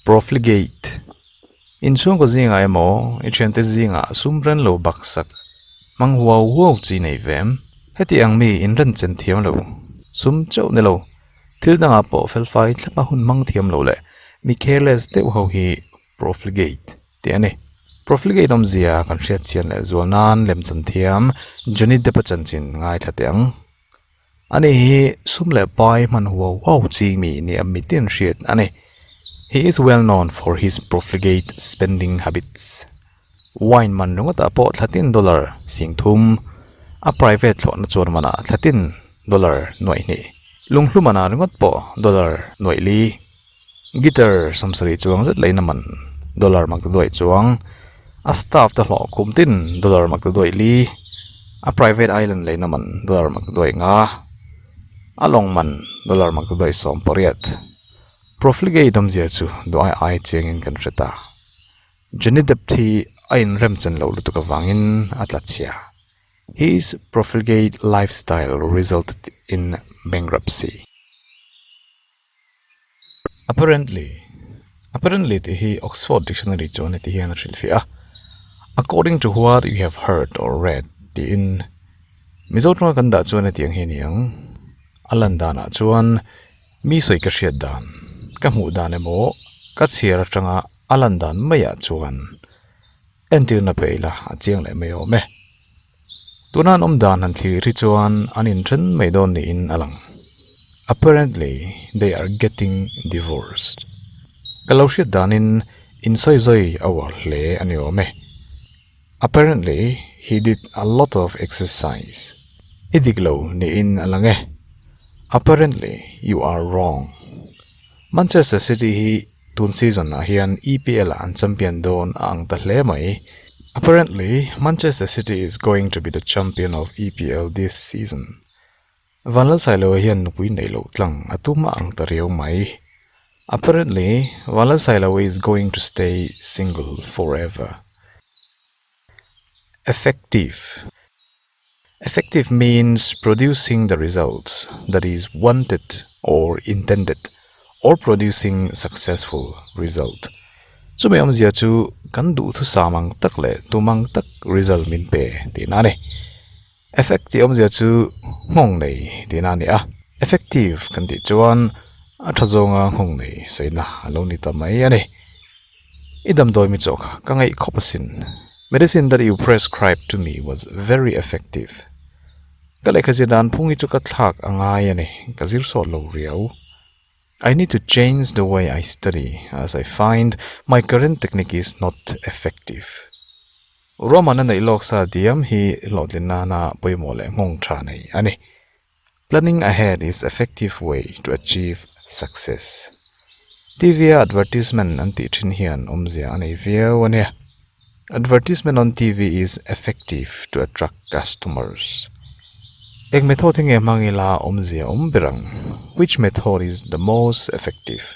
Profligate inchhungkaw zingah emaw i thiante zingah sum renlo baksak hmang huau huau chi nei ve em? Heti ang mi in ren chen thiam lo, sum chauh nilo, thil dangah pawh felfai thlapa hun hmang thiam lo leh mi careless deuh ho hi profligate. tih a ni. Profligate awmzia kan hriatchian leh zual nan lemchan thiam Johnny Depp a chanchin ngaithla teh ang. A ni hi sum leh pai hman huau huau chi mi ni a mite an hriat a ni. He is well known for his profligate spending habits. Wine man ringawtah pawh thlatin dollar sing thum, a private thlawhna chuan manah thlatin dollar nuaih hnih, lunghlumana ringawt pawh dollar nuaih li. Guitar sam sarih chuang zet lahin a man dollar mak ta duai chuang a staff te hlawh khum tin dollar mak ta duai li a private island lahin a man dollar mak ta duai nga a lawng man dollar mak ta duai sawm pariat profligate awm zia chu duai ai chiang in kan hre ta Johnny Depp thi a in rem chan loh lutuk avang in a tla chhia his profligate lifestyle result in bankruptcy. Apparently, Apparently tih hi Oxford Dictionary chuan heti hian a hrilhfiah a, According to what you have heard or read tiin Mizo tanga kan dah chuan hetiang hi a ni ang, a lan danah chuan mi sawi ka hriat dan, ka hmuh dan emaw ka chhiar atanga a lan dan maiah chuan, Entirna pe ila a chiang leh mai awm e. Tuna an awm dan han thlir hi chuan an inthen mai dawn niin a lang. Apparently they are getting divorced. Ka lo hriat danin insawi zawi a uar hle a ni awm e. Apparently he did a lot of exercise. I dik lo niin a lang e. Apparently you are wrong. Manchester City hi tun season ah hian EPL ah an champion dawn a ang ta hle mai. Apparently, Manchester City is going to be the champion of EPL this season. Van Lalsailo hian nupui neih loh tlang a tum a ang ta riau mai. Apparently, Van Lalsailo is going to stay single forever. Effective. Effective means producing the results that is wanted or intended or producing successful result. Chumi awmzia chu kan duhthusam ang tak leh tumang tak result min pe tihna a ni. Effect tih awmzia chu nghawng nei tihna a ni a, effective kan tih chuan a tha zawnga nghawng nei sawiina a lo ni ta mai a ni. I damdawi mi chaw kha ka ngaih khawp asin. Medicine that you prescribed to me was very effective. Ka lehkhazia dan phung hi chu ka thlak a ngai a ni, ka zir sawt lo riau. I need to change the way I study as I find my current technique is not effective. Ruahmana neih lawk sa diam hi hlawhtlinna hna pawimawh leh nghawngtha nei a ni. Planning ahead is effective way to achieve success. TV a advertisement an tih thin hian awmzia a nei viau a nia. Advertisement on TV is effective to attract customers. Eng method hi nge hmang ila awmzia awm ber ang? Which method is the most effective?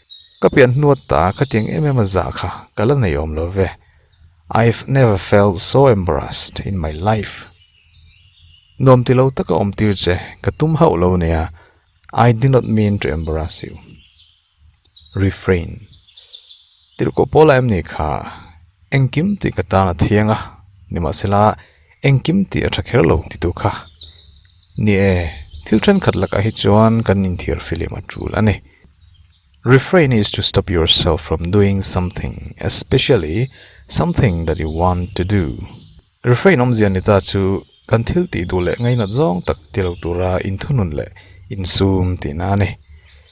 Ka pian hnuat ta a, khatiang em em a zah kha ka la nei awm lo ve. I've never felt so embarrassed in my life. Nuam ti lo taka awm tir che ka tum hauh lo nia, I did not mean to embarrass you. Refrain. Tirhkoh pawlah em ni kha engkim tih ka tan a thiang a, nimahsela Engkim tih a tha kher lo ti tur kha ni e. Thil thenkhat lakah hi chuan kan inthiar filim a tul a ni. Refrain is to stop yourself from doing something, especially something that you want to do. Refrain awmzia ni ta chu kan thil tih duh leh ngainat zawng tak ti lo tura inthunun leh insum tihna a ni.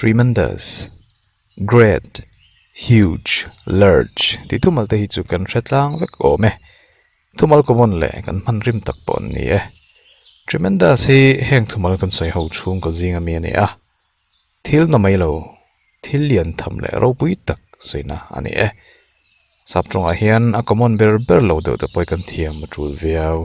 Tremendous, great, huge, large tih thumal te hi chu kan hre tlang vek awm e. Thumal common leh kan hman rim tak pawh an ni e. Tremendous hi heng thumal kan sawi ho chhung ka zing a mi a ni a. Thil na mai lo, thil lian tham leh ropui tak sawiina a ni e. Sap tawngah hian a common ber ber lo deuh te pawh i kan thiam a tul viau.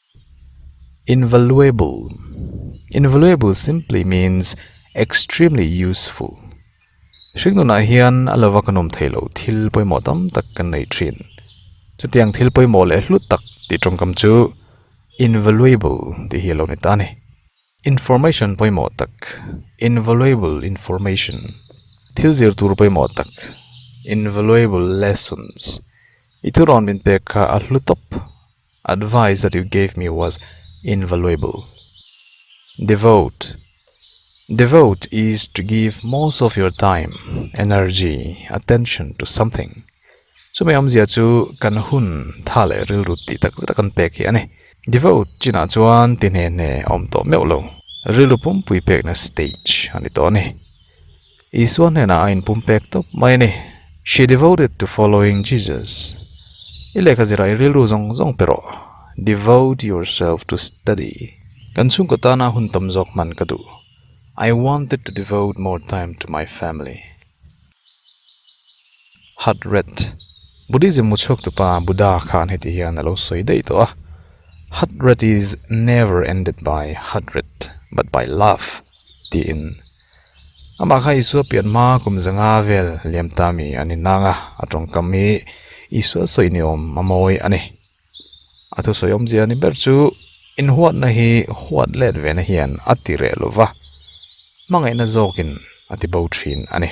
Invaluable Invaluable simply means extremely useful. Hring nun ah hian a lova kan awm theih loh thil pawimawh tam tak kan nei thin. Chutiang thil pawimawh leh hlut tak tih tawngkam chu invaluable tih hi a lo ni ta a ni. Information pawimawh tak Invaluable information Thil zir tur pawimawh tak Invaluable lessons I thurawn min pek kha a hlu tawp. Advice that you gave me was invaluable. Devote, Devote is to give most of your time, energy, attention to something. Chumi awmzia chu kan hun tha leh rilru tih tak zeta kan pek hi a ni. Devote chinah chuan ti hne hne a awm tawh meuh lo. Rilru pumpui pekna stage a ni tawh a ni. Isua hnenah a inpumpek tawp mai a ni, She devoted to following Jesus. I lehkha zirah in rilru zawng zawng pe rawh. Devote yourself to study. Kan chhungkaw tana hun tam zawk hman ka duh. I wanted to devote more time to my family. Heart rate, Buddhism muchhuak tupa Buddha khan heti hian a lo sawi daih tawh a, Heart rate is never ended by heart rate but by love tiin. Amah kha Isua pian hma kum za nga vel liam ta mi a ni nang a, a tawngkam hi Isua sawi ni awm a mawi a ni. A thusawi awmzia ni ber chu inhuatna hi huat let ve na hian a ti reh lova, hmangaihna zawkin a ti bo thin a ni.